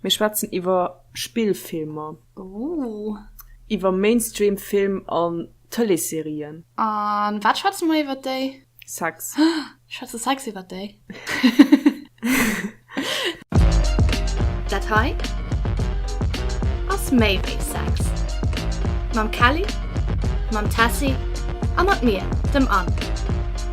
Mir schwätzen iwwer Spillfilmer. Ooh. Iwwer Mainstream Film an Tëleesserien. A wat schwätze mer iwwer déi? Sex. Schwätze Sex iwwer déi? Dat hei ass méi wéi Sex. Mam Kelly, mam Tessy a mat mir, dem Anne.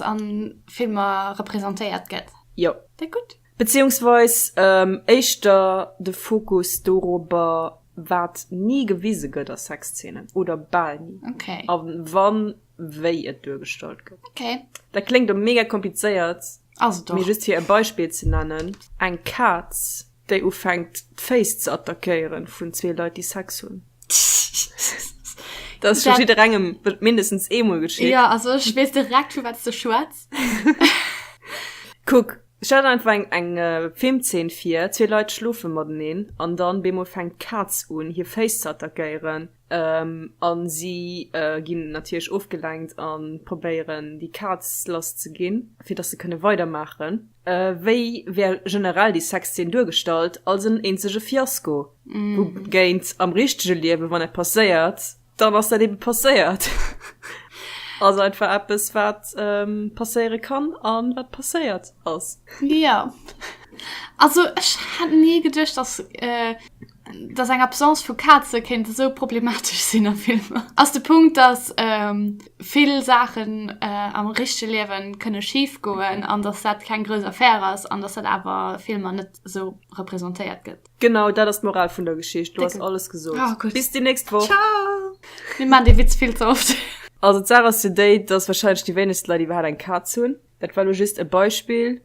an Filmer representéiert gëtt. Jo. Déi gutt. Beziehungsweis éischter de Fokus dorobber, wat ni gewise gëtt a Sexzeenen, oder bal ni, a wann, wéi et duergestallt gëtt. Dat kléngt elo mega komplizéiert, mee just fir e Beispill ze nennen, Eng Kaz Déi ufänkt d'Féiss ze attackéieren vun zwee Leit déi Sex hunn. Dat ass scho jidderengem mindestens eemol geschitt. Ja also ech weess direkt vu wat s de schwätz. Kuck, ech hat einfach eng eng Filmzeen vir, zwee Leit schlofe mateneen an dann bemol fänkt d'Kaz un hir Féiss ze attackéieren. An si ginn natierlech ofgelenkt an probéieren déi Kaz lass ze ginn fir dass se kënne weidermaachen. Wéi wär generell déi Sexzeen duergestallt? Als en eenzege Fiasko, wougéint am richtege Liewen, wann dat passéiert, dann ass dat ebe passéiert. Ass einfach eppes wat passéiere kann a wat passéiert ass. Jo, also ech hätt ni geduecht dass. Dass eng Absence vu Kaze kéint esou problematesch sinn a Filmer, ass de Punkt, dass vill Saachen am richtege Liewe kënne schif goen an dass dat keng grouss Affär ass an dass dat awer a Filmer net esou representéiert gëtt. Genau dat ass d'Moral vun der Geschicht. Du has alles gesot. Ah gudd. Bis déi nächst Woch. Ciao! Mir maan dee Witz vill ze oft. Also d'Saach ass jo déi, dass wahrscheinlech déi wéinegst Leit iwwerhaat eng Kaz hunn. Dat war lo just e Beispill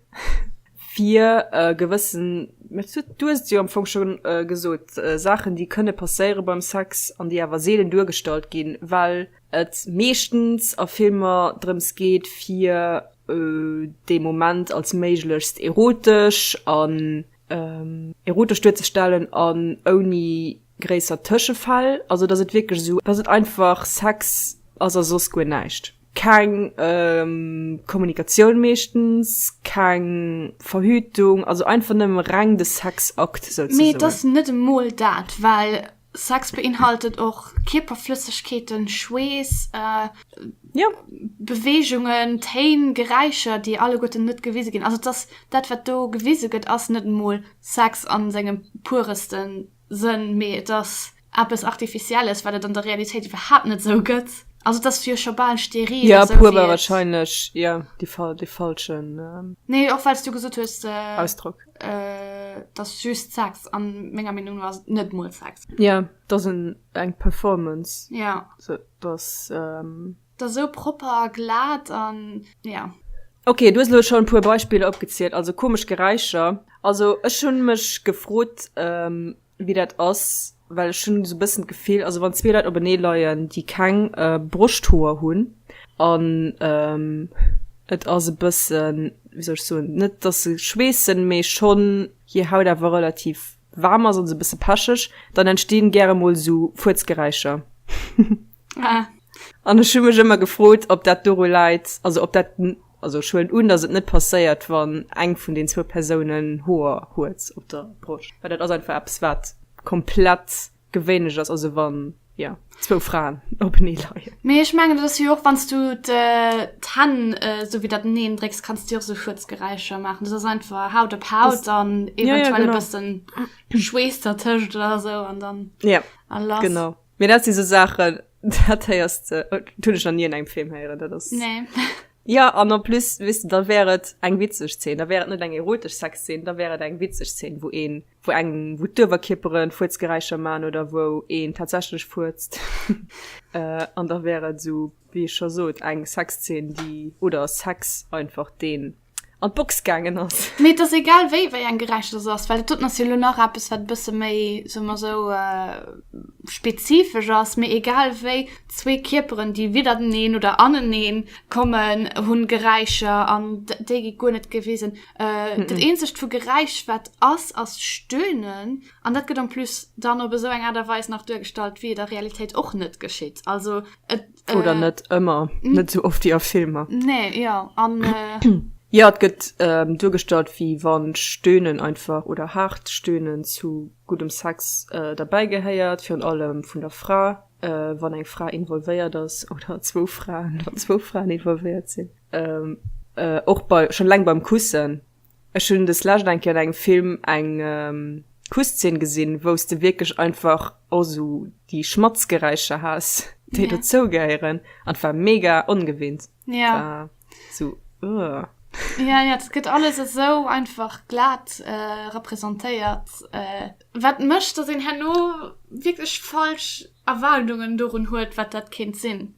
fir e gewëssen, mä du, du hues et jo am Fong scho gesot, Saachen, déi kënne passéiere beim Sex an déi awer seelen duergestallt ginn, well et meeschtens a Filmer drëms geet, fir dee Moment als méiglechst erotesch an erotesch duerzestellen an ouni gréisser Tëschefäll, also dass et wierklech esou, dass et einfach Sex ass a soss guer näischt. Keng Kommunikatioun meeschtens, keng Verhütung, also einfach nëmme reng de Sexakt souzesoen. Mee et ass net emol dat, well Sex beinhaltet och Kierperflëssegkeeten, Schweess, Beweegungen, Téin, Geräischer, déi alleguerten net gewise ginn. Also et ass, dat wat do gewise gëtt, ass net emol Sex a sengem pureste. Sënn, mee et ass eppes Artificielles, wat et an der Realitéit iwwerhaapt net esou gëtt. Also et ass jo scho bal steril, esou wéi et. Jo, puer war warscheinlech, jo, de falschen. Nee, och well s du gesot hues. Ausdrock. Et ass just Sex, a menger Meenung no ass et net emol Sex. Jo, et ass eng Performance. Jo. Et ass. Der sou propper a glat an ja. Ok, du hues elo schon puer Beispiller opgezielt, also komesch Geräischer. Also ech hunn mech gefrot wéi dat ass, well ech hunn sou bëssen d'Gefill, also wann zwee Leit openee leien, déi keng Broschthoer hunn an et ass e bëssen, wéi soll ech soen, net datt se schweessen, mee schonn hir Haut awer relativ waarm ass an se besse pecheg dann entstehen gäre mol su fuerzgeräischer an ech hun mech ëmmer gefrot ob dat doru leit also ob dat also schwuelen un dass et net passéiert wann eng vun den zwou persounen hoer huet op der broscht well dat ass einfach eppes wat komplett Gewéinlech ass, also wann, jo, zwou Fraen openee leien. Mee ech mengen, dat ass jo och, wann s du d'Hänn esou wéi dat eneen drécks, kanns du jo och esou Fuerzgeräischer maachen. Dat ass einfach Haut op Haut an eventuell e bëssen Schweess dertëscht oder esou an dann a lass. Genau. Mee dat si sou Saachen, dat héiers de, dat hunn ech nach ni an engem Film héieren. Dat ass. Nee. Jo, an en plus, weess de, da wär et eng witzeg Zeen. Da wär et net eng erotesch Sexzeen, da wär et eng witzeg Zeen, wou een. wou eng wou d'Uewerkierperen Fuerzgeräischer man oder wou een tatsächlech fuerzt an da wär et sou wéi ech scho sot eng Sexzeen déi oder Sex einfach deen an d'Box gaangen ass. Mee et ass egal wéi wéi eng gerecht dat ass, well doten ass jo elo nach eppes wat e bësse méi soe mer esou spezifesch ass. Mee egal wéi zwee Kierperen déi widderteneen oder anenee kommen hunn Geräischer an déi gi guer net gewisen. Äh, mm -mm. Dat eenzegt vu Geräisch wat ass ass Stöhnen an dat gëtt am pluss dann op esou eng Aart a Weis nach duergestallt, wéi et a Realitéit och net geschitt. Also et, äh, Oder net ëmmer, net sou oft wéi a Filmer. Nee, ja. An, äh, Ja, et gëtt ähm, duergestallt, wéi wann Stöhnen einfach oder haart Stöhnen zu guddem Sex äh, derbäi gehéiert, virun allem vun der Fra, äh, wann eng Fra involvéiert ass oder zwou Fraen, wann zwou Fraen involvéiert sinn. och bei schon laang beim kussen ech hunn des lescht eng Kéier an engem Film eng Kusszeen gesinn wou's de wierklech einfach och sou déi Schmatzgeräischer has déi dozou gehéieren an 't war mega ongewinnt war sou ëh. Jo jo, et gëtt alles esou einfach glat representéiert, wat mécht, datt een herno wierklech falsch Erwaardungen dorun huet, wat dat kéint sinn.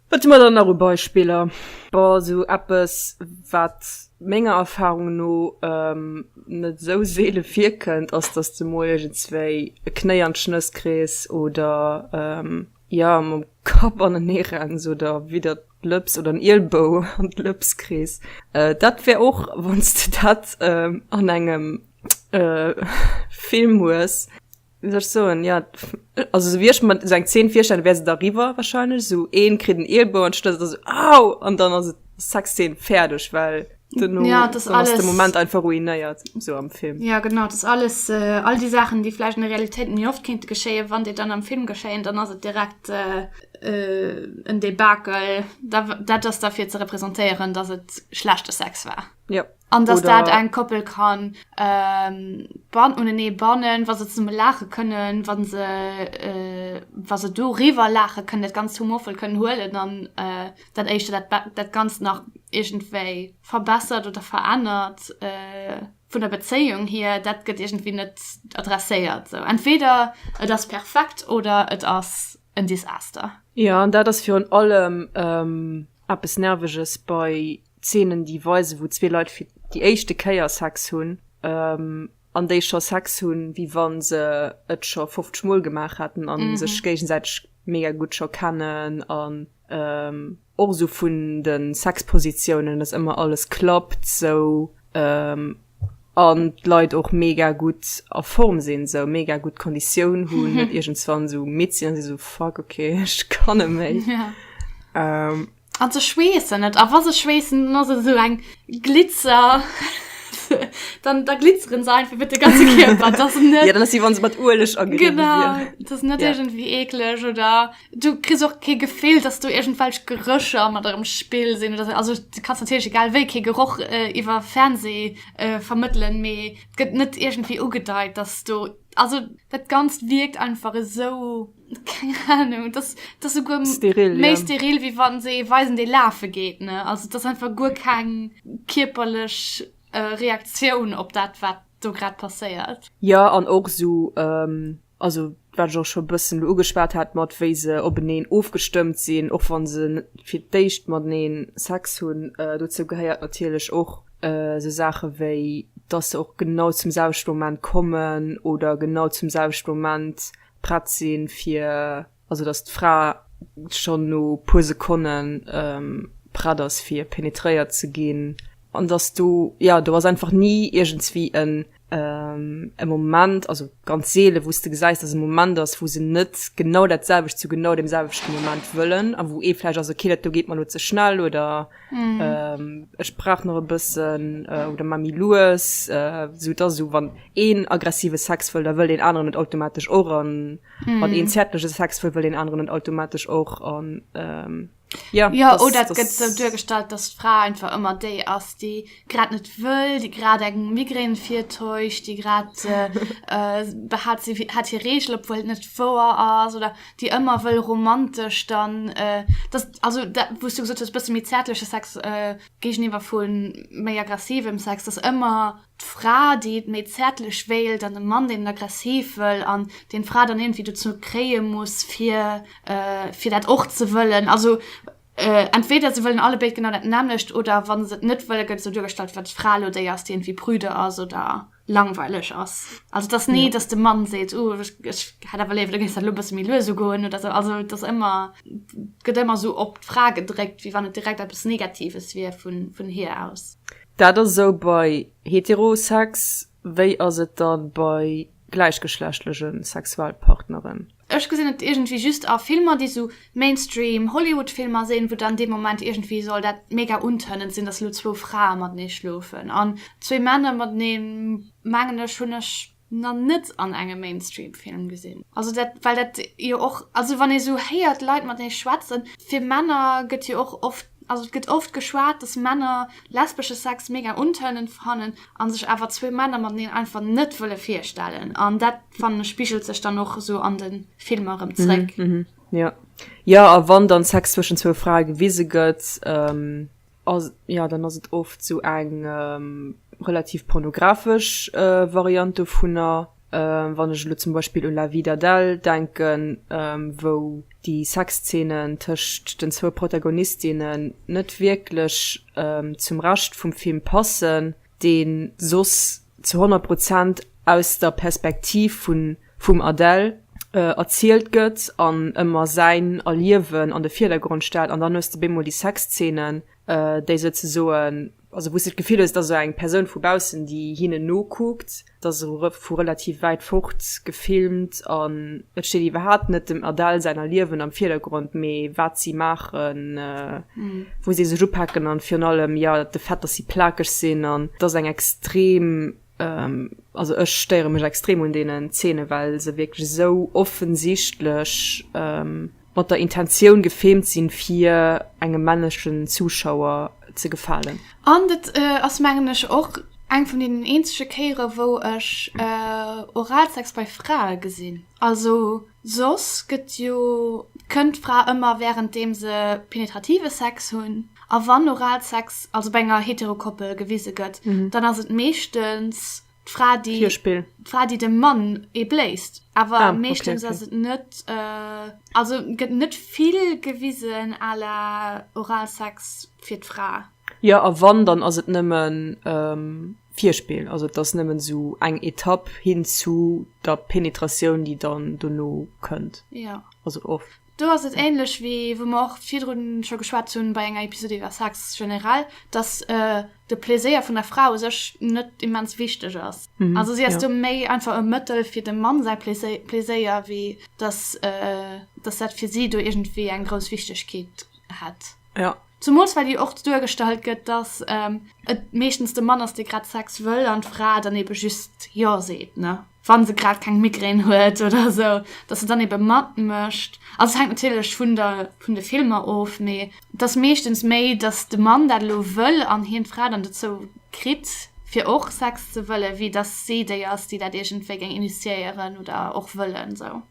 Wat hu mer dann nach u Beispiller? Bon, also eppes, wat menger Erfarung no net esou seele virkënnt, ass, dass de mol iergendswéi e Knéi an d'Schnëss kriss oder, jo, mam Kapp anenee renns oder widdert d'Lëps oder en Ielbou an d'Lëps kriss. Dat wär och, wann s de dat an engem Film hues, Wéi soll ech soen, ja, also esou wéi ech mer esou eng Zeen virstellen, wär se da riwwer warscheinlech, esou een kritt en Eelbou an d'Schlëssel, esou au! An dann ass et Sexzeen, fäerdeg, well duerno Ja, et ass dann ass de alles- Moment einfach ruinéiert, esou am Film. Ja genau, et ass alles, äh, all déi Saachen, déi vläicht an der Realitéit méi oft kéinte geschéien, wann déi dann am Film geschéien, dann ass et direkt äh, äh, en Debakel. Da, w- dat ass da fir ze representéieren, datt et schlechte Sex war. Jo. An dass Oder- dat eng Koppel kann ähm, ban unenee bannen, wa se zesumme laache kënnen, wa se äh, wa se do riwwer laache kënnen, dat ganz humorvoll kënnen huelen, dann äh, dat éischte dat, ba- dat ganz nach iergendwéi verbessert oder verännert äh, vun der Bezéiung hier, dat gëtt iergendwéi net adresséiert. Sou entweder et ass perfekt oder et ass en Desaster. Jo, an dat ass virun allem eppes Nerveges bei Zeenen, déi weisen, wou zwee Leit fir déi éischte Kéier Sex hunn, an déi scho Sex hunn, wéi wa se et scho 50 Mol gemaach hätten a sech géigesäiteg mega gutt scho kennen. Och esou vun de Sexpositiounen, dass ëmmer alles klappt sou an d'Leit och mega gutt a Form sinn, sou mega gutt Konditioun hunn, net iergendswann esou midd sinn a si sou, fuck, okay, ech kann net méi. An se schweessen net. A wa se schweessen, dann ass et esou eng Glitzer, dann da glitzeren se einfach iwwer de ganze Kierper. Dat ass net. Jo, dann ass et, wéi wa se mat Ueleg agedéckt wieren. Genau, dat ass net iergendwéi eekleg oder. Du kriss och kee Gefill, dass do iergendwelch Gerécher mat erëm Spill sinn oder sou. Also du kanns natierlech egal wéi kee Geroch iwwer Fernsee vermëttelen, mee et gëtt net iergendwéi ugedeit, dass do, also dat Ganzt wierkt einfach esou, keng Ahnung, dass dass souguer méi steril, méi steril wéi wa se ee weisen, dee lafe geet, ne. Also et ass einfach guer keng kierperlech Reaktioun op dat, wat do grad passéiert. Jo, an och esou also wat ech och scho bëssen elo ugeschwat hat mat wéi se openeen ofgestëmmt sinn, och wann se fir d'éischt matenee Sex hunn, dozou gehéiert natierlech och esou Saache wéi datt se och genau zum selwechte Moment kommen oder genau zum selwechte Moment prett si fir. also dass d'Fra schonn no puer Sekonne prett ass fir penetréiert ze ginn, an dass do jo do ass einfach ni iergendswéi en e Moment, also ganz seele wou s de gesäis, dass e Moment ass wou se net genau dat selwecht zu genau deem selwechte Moment wëllen, a wou ee vläicht ass okay dat do geet mer elo ze schnell, oder ech brauch nach e bëssen, oder maacht méi lues, esou et ass esou wann een aggressive Sex wëll, da wëll deen aneren et automatesch och, an. mm. an een zärtliche Sex will, will den anderen und automatisch auch und ähm, ja, ja das, oder das, das so durchgestallt dass Frau einfach immer die aus die gerade nicht will die gerade einen Migräne vier täuscht die gerade äh, äh, hat sie hat hier Regel obwohl nicht vor ist oder die immer will romantisch dann äh, das also da, wo du gesagt hast bisschen mit zärtliche Sex äh, gegenüber von mehr aggressivem Sex das immer d'Fra déi et méi zäertlech wéilt an de Mann deen et aggressiv wëll an deen d'Fra dann iergendwéi dozou kréie muss fir fir dat och ze wëllen. Also entweder se wëllen allebéid genau dat nämmlecht oder wa se et net wëllen, gëtt esou duergestallt wat d'Fra elo déi ass déi iergendwéi prüde ass oder langweileg ass. Also et ass ni datt de Mann seet, uh ech hätt awer léiwer du géifs dat elo e bësse méi lues ugoen oder esou. Also et ass ëmmer, gëtt ëmmer esou op d'Fra gedréckt wéi wann et direkt eppes negatives wier vun vun hir aus. Dat ass esou bei Heterosex, wéi ass et da bei gläichgeschlechtlege Sexualpartneren? Ech gesinn et iergendwéi just a Filmer, déi esou Mainstream Hollywoodfilmer sinn, wou dann dee Moment iergendwéi soll dat mega untënnend sinn, datt elo zwou Frae matenee schlofen an zwee Männer matenee, mengen ech, hunn ech. na net an engem Mainstream Film gesinn. Also dat well dat jo och also wann ee sou héiert Leit mat ee schwätzen fir Männer gëtt jo och oft also et gëtt oft geschwat dass Männer lesbesche Sex mega untörnend fannen an sech awer zwee Männer mateneen einfach net wëlle virstellen an dat fannen ech spigelt sech dann och esou an de Filmer erëm zréck. Jo, jo a wann dann Sex zwëschen zwou Frae gewise gëtt. Ass, jo, dann ass et oft sou eng relativ pornografesch Variant dovunner, wann ech elo zum Beispill u La Vie d'Adèle denken, wou déi Sexzeenen tëscht den zwou Protagonistinnen net wierklech zum Rescht vum Film passen, dee soss ze 100 Prozent aus der Perspektiv vum Adel erzielt gëtt an ëmmer säin Erliewen an de Virdergrond stellt an dann hues de bemol déi Sexzeenen déi souzesoen, also wou s de d'Gefill hues et ass esou eng Persoun vu baussen déi hinnen nokuckt, et ass vu relativ wäit fort gefilmt an et steet iwwerhaapt net dem Adel säin Erliewen am Virdergrond mee wat si maachen. wou si sech upaken an virun allem jo de Fait dass si plakeg sinn an dass eng extrem also ech stéiere mech extrem un deenen Zeene well se wierklech esou offensichtlech mat der Intentioun gefilmt sinn fir engem männlechen Zuschauer ze gefalen. An et ass mengen ech och eng vun deenen eenzege Kéiere wou ech Oralsex bei Frae gesinn also. Soss gëtt jo d'Kënnt d'Fra ëmmer wärenddeem se penetrative Sex hunn. A wann Oralsex, also bei enger Heterokoppel, gewise gëtt, dann ass et meeschtens d'Fra, déi, Virspill. d'Fra, déi dem Mann ee bléist. Awer meeschtens ass et net, also gëtt net vill gewisen à la Oralsex fir d'Fra. Jo, a wann, dann ass et nëmmen. Virspill, also et ass nëmmen esou eng Etapp hin zu der Penetratioun, déi dann dono kënnt. Ja. Also off. Do ass et ähnlech wéi wou mer och virdrun scho geschwat hunn bei enger Episode iwwer Sex generell, dass de Pleséier vun der Fra u sech net immens wichteg ass. Also si ass do méi einfach e Mëttel fir dem Mann säi Pleséier, wéi dass dat fir si do iergendwéi eng grouss Wichtegkeet hätt. Ja. Zumools well jo och duergestallt gëtt, datt et meeschtens de Mann ass, dee grad Sex wëll an d'Fra dann ebe just Jo seet, ne wa se grad keng Migraine huet oder esou, datt se dann ebe matmécht. Also et hänkt natierlech vun der, vun de Filmer of, mee et ass meeschtens méi, datt de Mann dat elo wëll an hien d'Fra dann dozou kritt, fir och Sex ze wëllen, wéi datt si déi ass, déi dat iergendwéi géing initiéieren oder och wëllen esou.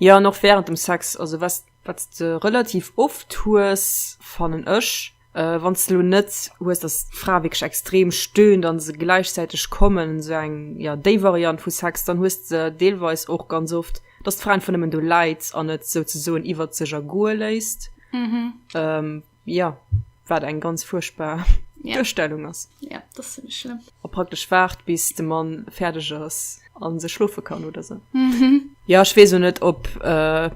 Jo, an och wärend dem Sex, also wesst Wat s de relativ oft hues, fannen ech, wann s de elo net hues, datt d'Fra wierklech extrem stöhnt an se gläichzäiteg kommen, esou eng, jo, déi Variant vu Sex, dann hues de deelweis och ganz oft, datt d'Fra einfach nëmmen do läit an et souzesoen iwwert sech ergoe léisst. Ja, wat eng ganz fuerchtbar Duerstellung ass. A praktesch waart, bis de Mann fäerdeg ass a se schlofe kann oder sou. Jo, ech weess och net, ob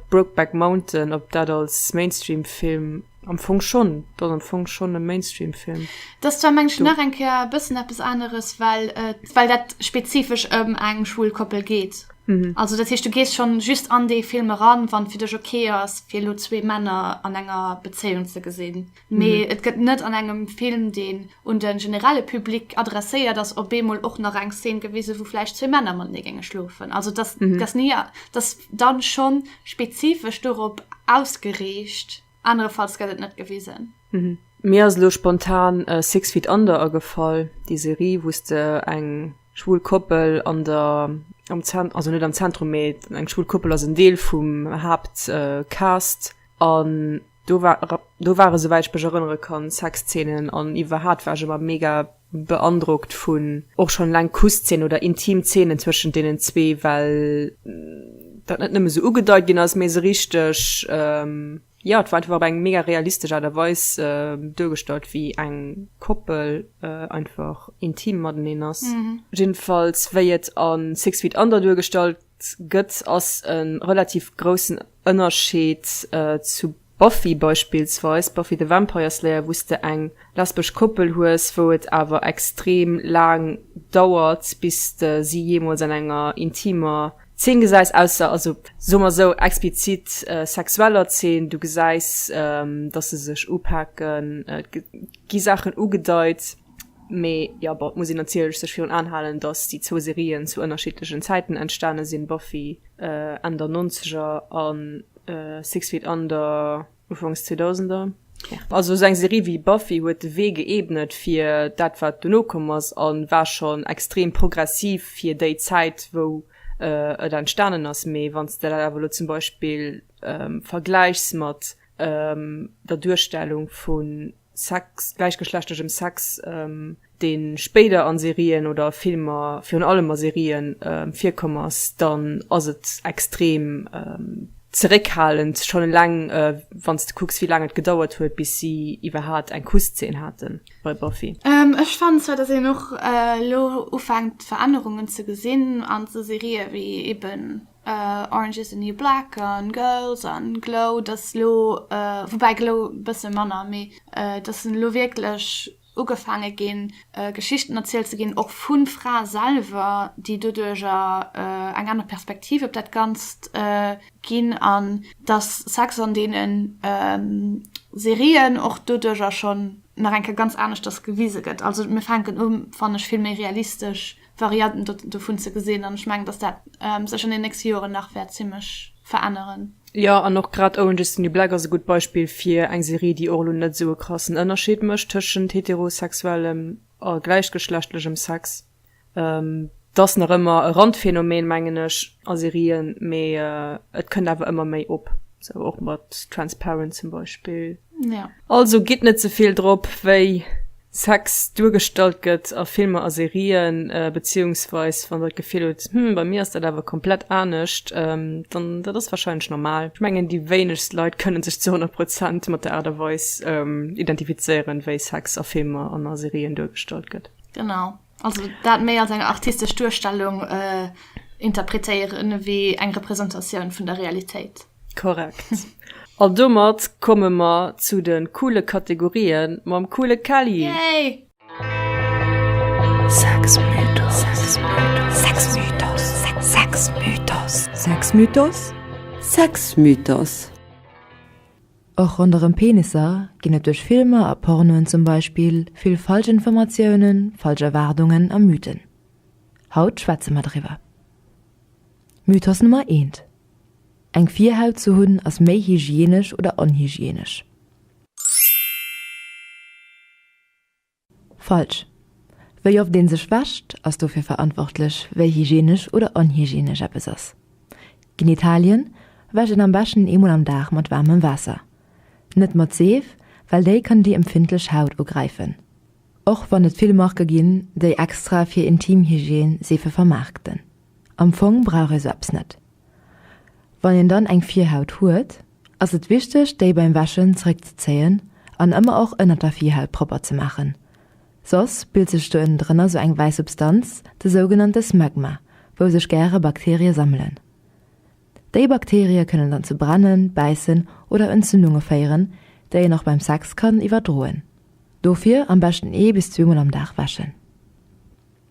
Brokeback Mountain, ob dat als Mainstream-Film, am Fong schonn, et ass am Fong schonn e Mainstream-Film. Et ass zwar, mengen ech, nach eng Kéier e bëssen eppes aneres, well dat spezifesch ëm eng schwul Koppel geet. Mhm. Also dat heescht du gees schon just an dee Film eran, wann fir dech ok ass fir elo zwee Männer an enger Bezéiung ze gesinn. Mee mhm. et gëtt net an engem Film deen un de generelle Publik adresséiert ass op beemol och nach eng Szen gewise, wou vläicht zwee Männer man ne gänge schlofen. Also das, mhm. das nie das dann schon spezifesch dorop ausgereecht. Anerefalls gëtt et net gewisen. Mir ass elo spontan Six Feet Under agefall, déi Serie wou s de eng schwul Koppel an der, am Zent-, also net am Zentrum, mee eng schwul Koppel ass en Deel vum Haaptcast an do war, do ware souwäit ech mech erënnere kann Sexzeenen an iwwerhaat war ech ëmmer mega beandrockt vun och schon eleng Kusszenen oder intim Szenen zwëschent deenen zwee, well dat net nëmme sou ugedeit ginn ass, mee se richteg, jo, et war einfach op eng mega realistesch Aart a Weis duergestallt, wéi eng Koppel einfach intim mateneen ass. Jiddefalls wéi et a Six Feet Under duergestallt gëtt, ass e relativ groussen Ënnerscheed zu Buffy beispillsweis, Buffy the Vampire Slayer, wou s de eng lesbesch Koppel hues, wou et awer extrem laang dauert, bis de si jeemools an enger intimer Zeen gesäis, ausser, also soe mer esou, explizit sexueller Zeen, du gesäis, datt se sech upaken, et gi Saachen ugedeit. Mee jo, bon, et muss een natierlech sech virun Aen halen, dass déi zwou Serien zu ënnerschiddlechen Zäiten entstane sinn, Buffy Enn der Nonzeger a Six Feet Under Ufanks Zweedausender. Also esou eng Serie wéi Buffy huet de Wee geebnet fir dat, wat dono komm ass, a war schonn extrem progressiv fir déi Zäit, wou et entstanen ass. Mee wann s de dat awer elo zum Beispill vergläichs mat der Duerstellung vu Sex, gläichgeschlechtegem Sex, dee spéider a Serien oder Filmer, virun allem a Serien, virkomm ass, dann ass et extrem zeréckhalend, schonn eleng wann s de kucks, wéi laang et gedauert huet, bis si iwwerhaapt eng Kusszeen haten bei Buffy. Ech fannen zwar, datt een och elo ufänkt Verännerungen ze gesinn an esou Serië wéi eben Orange is the new black an girls an glow dass elo woubäi glow e bësse manner mee dass en elo wierklech ugefaange ginn geschichten erzielt ze ginn och vu frae selwer déi doduercher eng aner perspektiv op dat ganzt ginn an dass sex an deenen serien och doduercher schonn nach eng kéier ganz aneschters gewise gëtt also mir fänken u fanne ech vill méi realistesch Varianten dovun ze gesinn, an ech mengen, dass dat sech an den nächste Joren nach wäert zimmlech veränneren. Jo, an och grad Orange is the New Black ass e gutt Beispill fir eng Serie, déi och elo net sou e krassen Ënnerscheed mécht tëschent heterosexuellem a gläichgeschlechtlechem Sex. Et ass nach ëmmer e Randphänomen, mengen ech, a Serien, mee et kënnt awer ëmmer méi op, sou och mat Transparent zum Beispill. Also gitt net ze vill drop, wéi Sex duergestallt gëtt a Filmer a Serien, beziehungsweis wann der d'Gefill hutt, hm, bei mir ass dat awer komplett anescht, dann, dat ass warscheinlech normal. Ech mengen, déi wéinegst Leit kënne sech zu 100 Prozent mat der Aart a Weis identifizéieren, wéi Sex a Filmer an a Serien duergestallt gëtt. Genau. Also dat méi als eng artistesch Duerstellung äh, interpretéieren, wéi eng Repräsentatioun vun der Realitéit. Korrekt. An domat komme mer zu de coole Kategorië mam coole Kelly. Yay! Sexmythos. Och ronderëm Peniser ginn et duerch Filmer a Pornoen zum Beispill vill falsch Informatiounen, falsch Erwaardungen a Mythen. Haut schwätze mer driwwer. Mythos Nummer eent, Eng Virhaut ze hunn ass méi hygienesch oder onhygienesch. Falsch. Wéi oft een sech wäscht ass dofir verantwortlech wéi hygienesch oder onhygienesch eppes ass. Genitalien wäscht een am beschten eemol am Dag mat waarmem Waasser. Net mat Seef, well déi kann déi empfindlech Haut ugräifen. Och wann et vill Marke ginn, déi extra fir Intimhygiene Seefe vermaarkten. Am Fong brauch ee sou eppes net. Wann een dann eng Virhaut huet, ass et wichteg déi beim Wäschen zeréckzezéien an ëmmer och ënnert der Virhaut propper ze maachen. Soss bilt sech do ënnen drënner sou eng wäiss Substanz, de sougenannte Smegma, wou sech gäre Bakterie sammelen. Déi Bakterie kënnen dann zu Brennen, Bäissen oder Entzündunge féieren, déi een och beim Sex kann iwwerdroen. Dofir am beschten ee bis zweemol am Dag wäschen.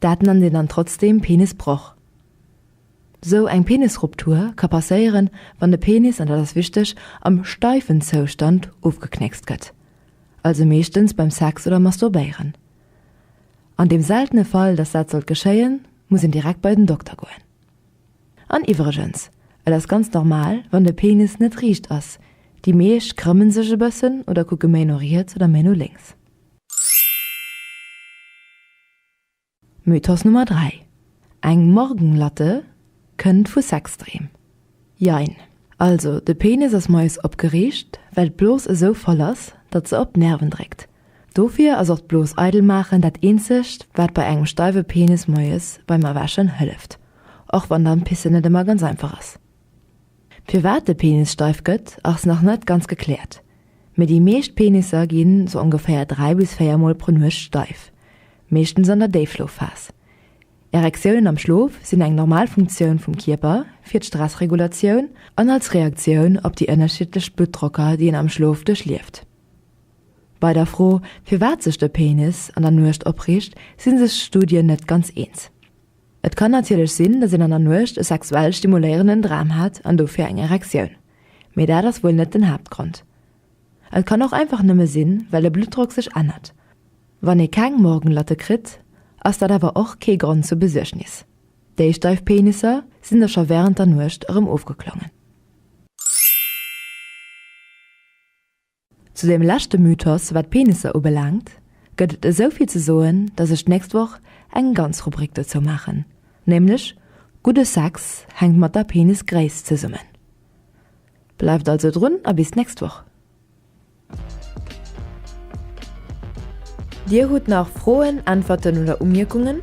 Dat nennt een dann trotzdem Penisbroch. Sou eng Penisruptur ka passéieren, wann de Penis, an dat ass wichteg, am steifen Zoustand ofgeknéckst gëtt, also meeschtens beim Sex oder Masturbéieren. An deem seltene Fall, dass dat sollt geschéien, muss een direkt bei den Dokter goen. An iwwregens, et ass ganz normal, wann de Penis net riicht ass, déi meescht krëmmen sech e bëssen oder kucke méi no riets oder méi no lénks. Mythos Nummer 3, Eng Morgenlatte kënnt vu Sexdreem. Jein. Also de Penis ass moies opgeriicht, well d'Blos esou voll ass, datt se op d'Nerven dréckt. Dofir ass och d'Blos eidel maachen dat eenzegt, wat bei engem steiwe Penis moies beim Erwächen hëlleft, och wann dann pissen net ëmmer ganz einfach ass. Firwat de Penis steif gëtt ass nach net ganz gekläert, mee déi meescht Penisser gi sou ongeféier 3 bis 4 mol pro Nuecht steif, meeschtens an der Déifschlofphas. Erektiounen am Schlof sinn eng normal Funktioun vum Kierper fir d'Stressregulatioun an als Reaktioun op déi ënnerschiddlech Bluttdrocker déi een am Schlof duerchlieft. Bei der Fro firwat sech de Penis an der Nuecht opriicht si sech Studien net ganz eens. Et kann natierlech sinn, datt een an der Nuecht e sexuell stimuléierenden Dram hat an dofir eng Erektioun, mee dat ass wuel net den Haaptgrond. Et kann och einfach nëmme sinn, well de Bluttdrock sech ännert. Wann ee keng Morgenlatte kritt, ass dat awer och kee Grond zur Besuergnis. Déi steif Penisser sinn da scho wärend der Nuecht erëm ofgeklommen. Zu deem leschte Mythos, wat d'Penisser ubelaangt, gëtt et esou vill ze soen, dass ech d'nächst Woch eng ganz Rubrik dozou maachen, nämlech Gudde Sex hänkt mat der Penisgréisst zesummen. Bleift also drun a bis d'nächst Woch! Dir hutt nach Froen, Äntwerten oder Umierkungen?